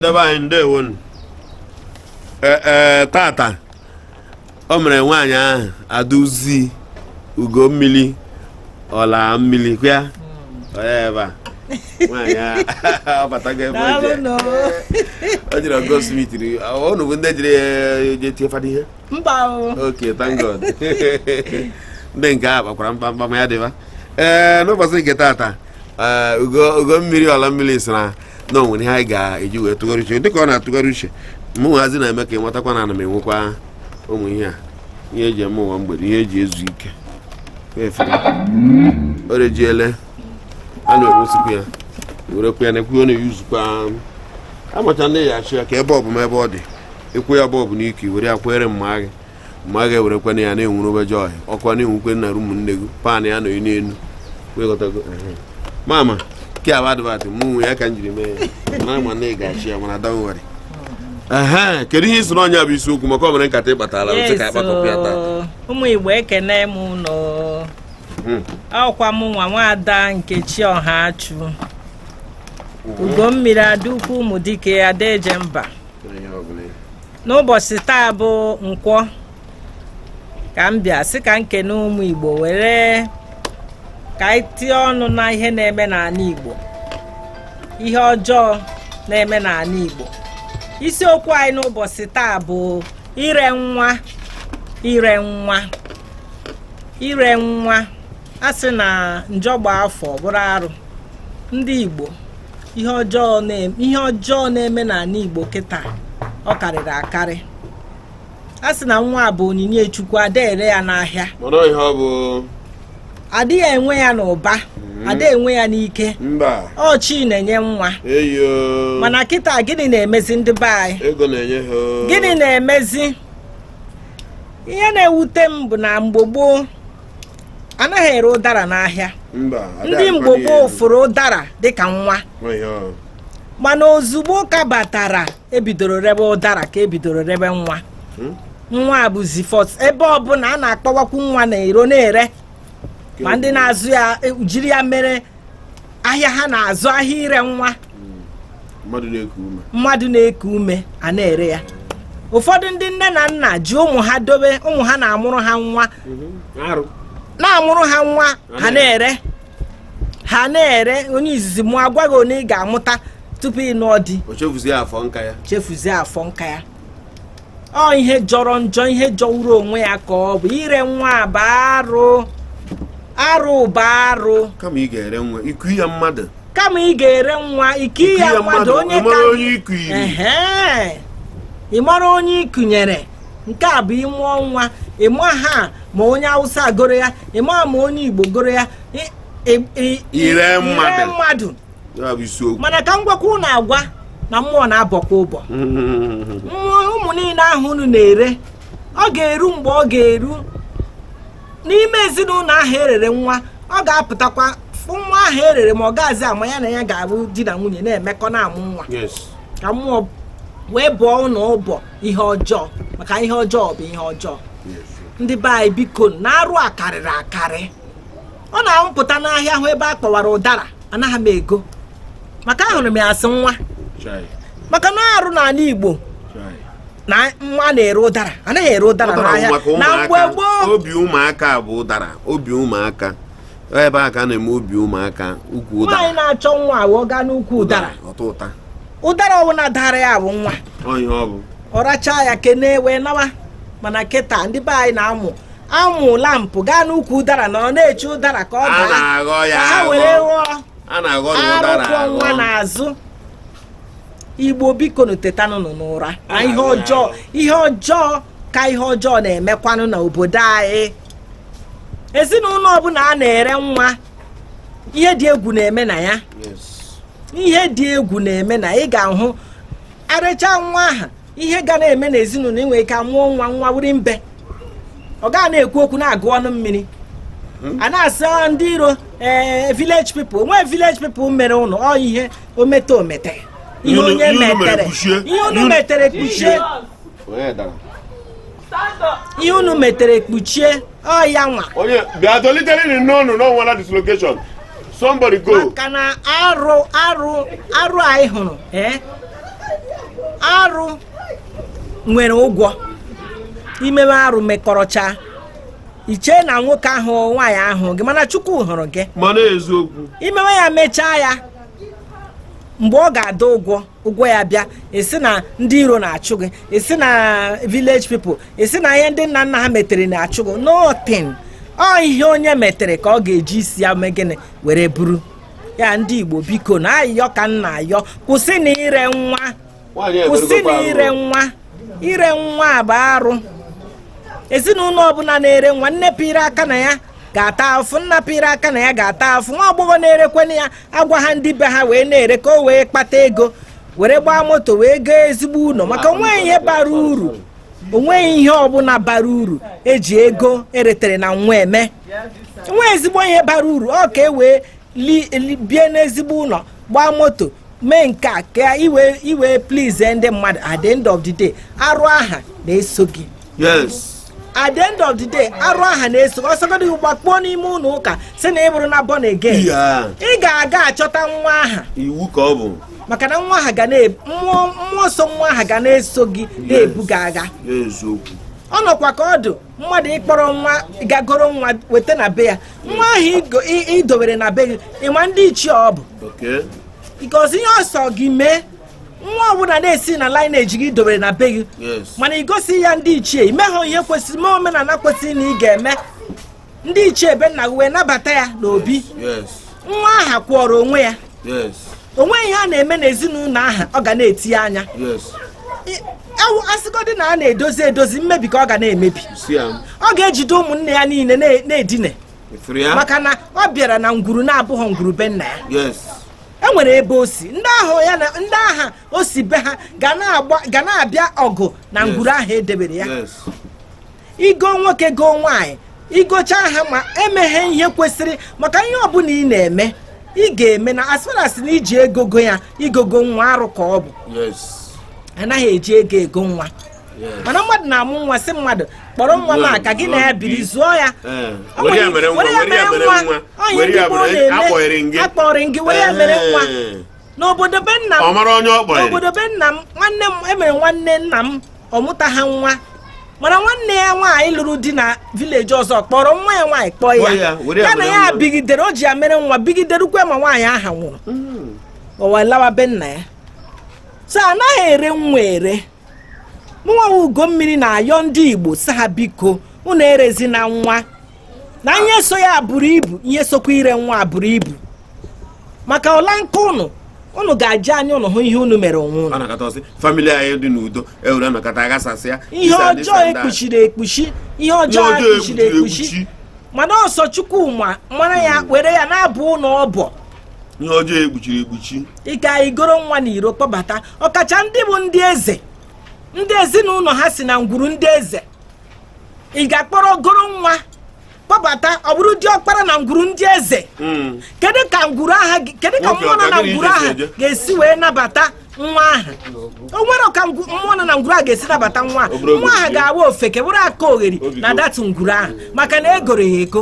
ndị be anyị ndewo nụ ee tata o mere nwaanyị ahụ aduzi ugo mmili ọla mmili kwa onye ebe a nwaanyị ahụ ọ batago ebe o je o jere goldsmith unu bụ ndị jere je tie fada ihe mba o ok thank god ndị nke a gbakwara mkpamkpa ma ya dịba ee n'ụbọchị nke tata ee ugo ugo mmili ọla mmili sị na na o nwere ihe anyị ga-eji wee tụgharị uche dịka ọ na-atụgharị uche mụ nwazi na-eme ka ị nwetakwa na ana m enwekwa ụmụ ihe a ihe e ji eme ụwa mgbede ihe e ji ezu ike o rejiele a na-enwesikwa ya werekwa ya na-ekwu ọ na-eyuzukwa amacha ndị ya achị ya ka ebe ọbụma ebe ọ dị ịkwụ ya bọọbụ n'ike were ya kwere mma gị ma a ga-ewerekwana ya na-enwuru obeje ọhịa ọkwa na-enwukwe nna ru ụmụnne gị pan ya nọ n'elu wegọtago mama ke abụ adịbatị mụ nwe ya ka m jiri mee ya na ama na ị ga-achị ya mana don't worry ee kedu ihe ị sị na ọ ya bụ isiokwu maka o nwere nkata ị kpatala otu ka a kpakọpụ ya taa ụmụ igbo ekene m ụnụ hmm. ọ kwa mụwa nwada nkechi ọhachụ ugo mmiri ada ukwu ụmụ dike ada eje mba n'ụbọsị taa bụ nkwọ ka m bịa sị ka m kene ụmụ Igbo were ka anyị tinye ọnụ na ihe na-eme n'anị Igbo ihe ọjọọ na-eme n'anị Igbo isiokwu anyị n'ụbọsị taa bụ ire nwa ire nwa ire nwa a sị na njọ gbaa afọ bụrụ arụ ndị Igbo ihe ọjọọ na-eme ihe ọjọọ na-eme n'anị Igbo kịta ọ karịrị akarị a sị na nwa bụ onyinye Chukwu a da ere ya n'ahịa a dịghị enwe ya n'ụba hmm. a da enwe ya n'ike ọ Chi na-enye nwa mana kịta gịnị na-emezi ndị be anyị gịnị na-emezi ihe na-ewute m bụ na mgbe gboo a naghị ere ụdara n'ahịa mba ada ndị mgbe adịkwa gboo n'elu. fụrụ ụdara dịka nwa Ọ ihe ọ. mana ozugbo ụka batara e bidoro rebe ụdara ka e bidoro rebe nwa Hmm? nwa a bụzi fọs ebe ọbụla a na-akpa okwu nwa na-ero na-ere ma ndị na-azụ ya e, jiri ya mere ahịa ha na-azụ ahịa ire nwa mmadụ na-eku ume a na-ere ya ụfọdụ ndị nne na nna ji ụmụ ha dobe ụmụ ha na-amụrụ ha nwa mhm. na-amụrụ ha nwa ha na-ere ha na-ere onye izizi mụ a gwa gị onye ị ga-amụta tupu ị nụọ di chefuzie afọ nka ya ọ ihe jọrọ njọ ihe jọwuru onwe ya ka ọ bụ ire nwa bụ arụ arụ bụ arụ kama ị ga-ere nwa iku ya mmadụ kama ị ga-ere nwa iku ya mmadụ onye ka ị mara onye ikunyere nke a bụ ị mụọ nwa ị maha ma onye awụsa goro ya ị maha ma onye igbo goro ya ire mmadụ mana ka m gwakwa unu agwa na mmụọ na-abọkwa ụbọ ụmụ niile ahụ unu na-ere ọ ga-eru mgbe ọ ga-eru n'ime ezinụlọ ahụ e rere nwa ọ ga-apụtakwa fụ nwa ahụ e rere ma ọ gaazị ama ya na ya ga-abụ di na nwunye na-emekọ na-amụ nwa ka mmụọ wee bọọ unu ụbọ ihe ọjọọ maka ihe ọjọọ bụ ihe ọjọọ ndị be anyị biko na arụ a karịrị akarị ọ na mụ pụta n'ahịa hụ ebe a kpọwara ụdara anaghị m ego maka ahụrụ m ya asị nwa maka na arụ n'ala Igbo na nwa na-ere ụdara anaghị ere ụdara n'ahịa na mgbe gboo obi ụmụaka bụ ụdara obi ụmụaka ebe a ka na-eme obi ụmụaka ukwu ụdara nwaanyị na-achọ nwa wụ ọ gaa n'ukwu ụdara ụdara ọbụla daara ya bụ nwa ọ rachaa ya kenee wee nawa mana kịta ndị be anyị na-amụ amụ lampụ gaa n'ukwu ụdara nọ na-eche ụdara ka ọ daa a na-aghọ ya aghọ ka ha were ghọọ a na-aghọ ụdara aghọ na arụ kwọ nwa n'azụ igbo bikonụ tetanụnụ n'ụra na ihe ọjọọ aghọ ya aghọ. ihe ọjọọ ka ihe ọjọọ na-emekwanụ na obodo anyị ezinụlọ ọbụla a na-ere nwa ihe dị egwu na-eme na ya Yes. ihe dị egwu na-eme na ị ga-ahụ e rechaa nwa ahụ ihe ga na-eme n'ezinụlọ e nwee ike a mụọ nwa nwa wụrụ imbe ọ gaghị na-ekwu okwu na-agụ ọnụ mmiri hmm? a na-asị ah, ndị iro ee eh, village people o nwee village people mere ụnụ ọ ihe omete omete ihe onye metere ihe onye metere kpuchie ihe unu metere kpuchie ọ yanwa onye bịa dolitere nri n'ọnụ na ọ nwala dislocation somebody go maka na arụ arụ arụ anyị hụrụ eh? arụ nwere ụgwọ i mewe arụ mekọrọchaa i chee na nwoke ahụ nwaanyị ahụ gị mana chukwu hụrụ gị mana eziokwu i mewe ya mechaa ya mgbe ọ ga-ada ụgwọ ụgwọ ya bịa ị sị na ndị iro na-achụ gị ị sị na village people ị sị na ihe ndị nna nna ha metere na-achụ gị nothing ọ ihe onye metere ka ọ ga-eji isi ya mee gịnị were buru ya ndị Igbo biko na ayịyọ ka m na-ayọ kwụsịnụ ire nwa kwụsịnụ ire nwa ire nwa bụ arụ ezinụlọ ọbụla na-ere nwa nne pịrị aka na ya ga-ata afụ nna pịrị aka na ya ga-ata afụ nwa agbọghọ na-erekwanụ ya agwa ha ndị be ha wee na-ere ka o wee kpata ego were gbaa moto wee goo ezigbo ụlọ maka onweghị ihe bara uru onweghị ihe ọbụla bara uru eji ego eretere na nwa eme o nwe ezigbo ihe bara uru ọ ka e wee bie n'ezigbo ụlọ gbaa moto mee nke a ka i wee please ndị mmadụ at the end of the day arụ aha na-eso gị yes at the end of the day arụ aha na-eso gị ọ sọgodi gbakpuo n'ime ụlọ ụka sị na ị bụrụna born again ị ga-aga achọta nwa aha iwu ka ọ bụ maka na nwa aha ga mmụọ mmụọ so nwa aha ga na-eso gị na-ebu gị agha ọ nọkwa ka ọ dụ mmadụ ịkpọrọ nwa gaa goro nwa weta na be ya nwa aha idowere na be gị ị gwa ndị ichie ọ bụ curse ihe ọ sọ gị mee nwa ọbụla na-esi na lineage gị idowere na be gị mana ị gosi ya ndị ichie imehọ ihe kwesịrị mee omenala kwesịrị na ị ga-eme ndị ichie be nna gị wee nabata ya n'obi nwa aha kwụọrọ onwe ya onweghị ihe a na-eme n'ezinụlọ aha ọ ga na-etinye anya asịgodị na a na-edozi edozi mmebi ka ọ ga na-emebi ọ ga-ejide ụmụnne ya niile na-edine maka na ọ bịara na ngwuru na-abụghị ngwuru be nna ya e nwere ebe o si ndị ahụ ya na ndị aha o si be ha ga na-abịa ọgụ na ngwuru ahụ edebere ya igo nwoke goo nwaanyị igocha ha ma emeghị ihe kwesịrị maka ihe ọbụla ị na-eme ị ga-eme na as far as na i ji ego goo ya igogo nwa arụ ka ọ bụ anaghị eji ego ego nwa mana mmadụ na-amụ nwa sị mmadụ kpọrọ nwa m ka gị na ya biri zụọ ya were ya mere nwa ọ ihe ndị gboo na-eme akpọnye gị were ya mere nwa n'obodo be nna m n'obodo be nna m nwanne m e nwere nwanne nna m ọ mụtaha nwa mana nwanne ya nwaanyị lụrụ di na village ọzọ kpọrọ nwa ya nwaanyị kpọọ ya ya na ya bigidere o ji ya mere nwa bigide rukwe ma nwaanyị aha nwụrụ o wee lawa be nna ya so anaghị ere nwa ere mụnwa ugo mmiri na-ayọ ndị igbo sị ha biko unu erezina nwa na ihe so ya buru ibu ihe sokwa ire nwa buru ibu maka ọla nke unu unu ga-eji anya unu hụ ihe unu mere onwe unu family anyị dị n'udo ewere anọkata aghasasịa ihe ọjọọ ekpuchiri ekpuchi ihe ọjọọ ekpuchiri ekpuchi mana ọ sọ chukwu ma mara ya hmm. were ya na-abọ unu ọbọ ihe ọjọọ ekpuchiri ekpuchi ị ga-egoro nwa na iro kpọbata ọkacha ndị bụ ndị eze ndị ezinụlọ ha si na ngwuru ndị eze ị ga-akpọrọ goro nwa kpọbata ọ bụrụ diọkpara na ngwuru ndị eze hmm. kedu ka ngwuru aha kedu ka mmụọ nọ na ngwuru aha ga-esi wee nabata nwa aha o nwere ka mmụọ nọ na ngwuru aha ga-esi nabata nwa aha nwa aha ga-awa ofeke bụrụ akaogheri na-adatu ngwuru aha maka na egoro ya ego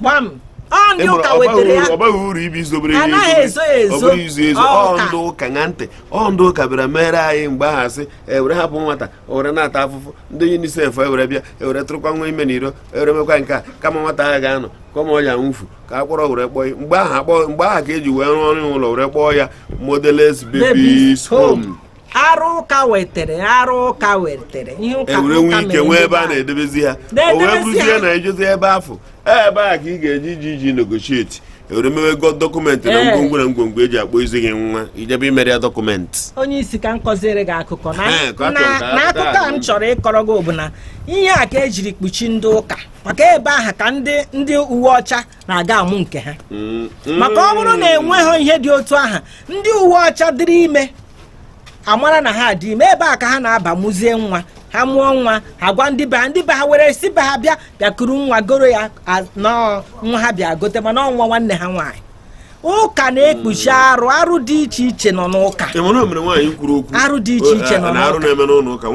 gbam ọ ndị Ịmụrụ, ụka ọ baghị wetara ya uru- ọ baghị uru ibi izobere A naghị ihe ezo ya ọ ezo. bụrụ izu ezu Ọ ọ ụka. ndị ụka ṅa ntị ọ ndị ụka bịara mere anyị mgbe ahụ asị ewere hapụ nwata o were na-ata afụfụ ndị unicef ewere bịa ewere tụrụkwa nwa ime n'iro ewere mekwa nke a kama nwata ahụ ga-anọ ka ụmụ ya nwụfu ka akpọrọ were kpọọ ya. mgbe ahụ akpọ mgbe ahụ ka eji wee rụọ ọrụ ụlọ were kpọọ ya motherless babies home. arụ ụka wetere arụ ụka wetere ihe ụka ewere nwe ike nwee ebe a na-edebezi ha o wee bụrụzie na ejezi ebe afụ e, ebe a ka ị ga-eji iji iji negotiate ewere mewe gị document na ngwongwo na ngwongwo eji akpọ izi gị nwa ị jebe e mere ya document onye isi ka m kọziere gị akụkọ na akụkọ a m chọrọ ịkọrọ gị bụ na ihe a ka ejiri kpuchi ndị ụka maka ebe ahụ ka ndị uwe ọcha na-aga amụ nke ha mm, mm. maka ọ bụrụ na enweghị ihe dị otu aha ndị uwe ọcha dịrị ime a mara na ha dị ime ebe a ka ha na-aba mụzie nwa ha mụọ nwa ha gwa ndị be ha ndị be ha were si be ha bịa bịakuru nwa goro ya nwa ha bịa gote mana ọ nwa nwanne ha nwaanyị ụka na-ekpuchi mm. arụ arụ dị iche iche nọ n'ụka arụ dị iche iche nọ n'ụka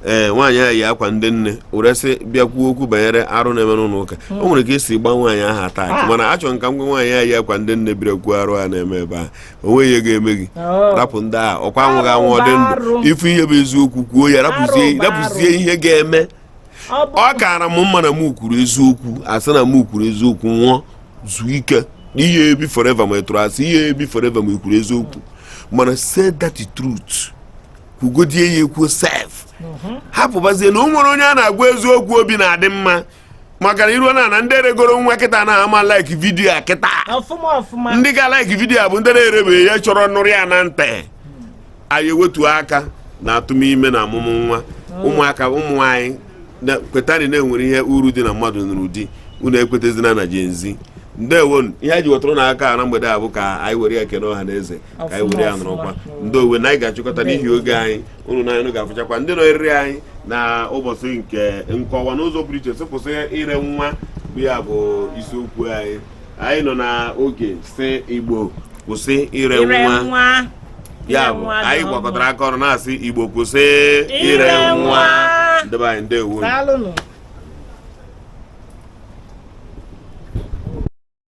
ee eh, nwaanyị ahụ yi akwa ndị nne were sị bịa kwuo okwu banyere arụ na-eme n'ụlọ ụka hmm. o nwere ka esi gba nwaanyị ahụ attack. mana achọ m ka m gwa nwaanyị ahụ yi akwa ndị nne bịara kwuo arụ a na-eme ebe a o nweghị ihe ga-eme gị oh. rapụ ndị a ọkwa anwụghị anwụ ọ dị ndụ ị fụ ihe bụ eziokwu kwuo ya rapụzie ihe ga-eme ọ kaara m mma na m kwuru eziokwu a sị na m kwuru eziokwu nwụọ zuo ike n'ihe ebi forever ma ị tụrụ asị ihe ebi forever ma ị kwuru eziokwu mana say that truth kwugodie ya ekwu sef mhm. hapụbazie na o nwere onye a na-agwa eziokwu obi na-adị mma maka na iruo na na ndị regoro nwa kịta na ha ama like video a kịta ndị ga like video a bụ ndị na-erebeghị ya chọrọ nụrụ ya na ntị anyị ewetu aka na atụm ime na amụmụ nwa oh. ụmụaka ụmụ nwaanyị kwetani na e nwere ihe uru dị na mmadụ nụrụ di unu ekwetazina na Gen Z ndewonụ ihe anyị ji wetụrụ na aka na mgbede a bụ ka anyị were ya kene ọha na eze ka anyị were ya nọrọkwa ndị owe na anyị ga-achịkọta n'ihi oge anyị unu na anyị ga-afụchakwa ndị nọ eriri anyị na ụbọchị nke Nkwọ a n'ụzọ pụrụ iche sị kwụsị ire nwa bụ ya bụ isiokwu anyị anyị nọ n'oge sị Igbo kwụsị ire nwa ya bụ anyị gwakọtara aka ọnụ na-asị Igbo kwụsị ire nwa ndị be anyị ndewo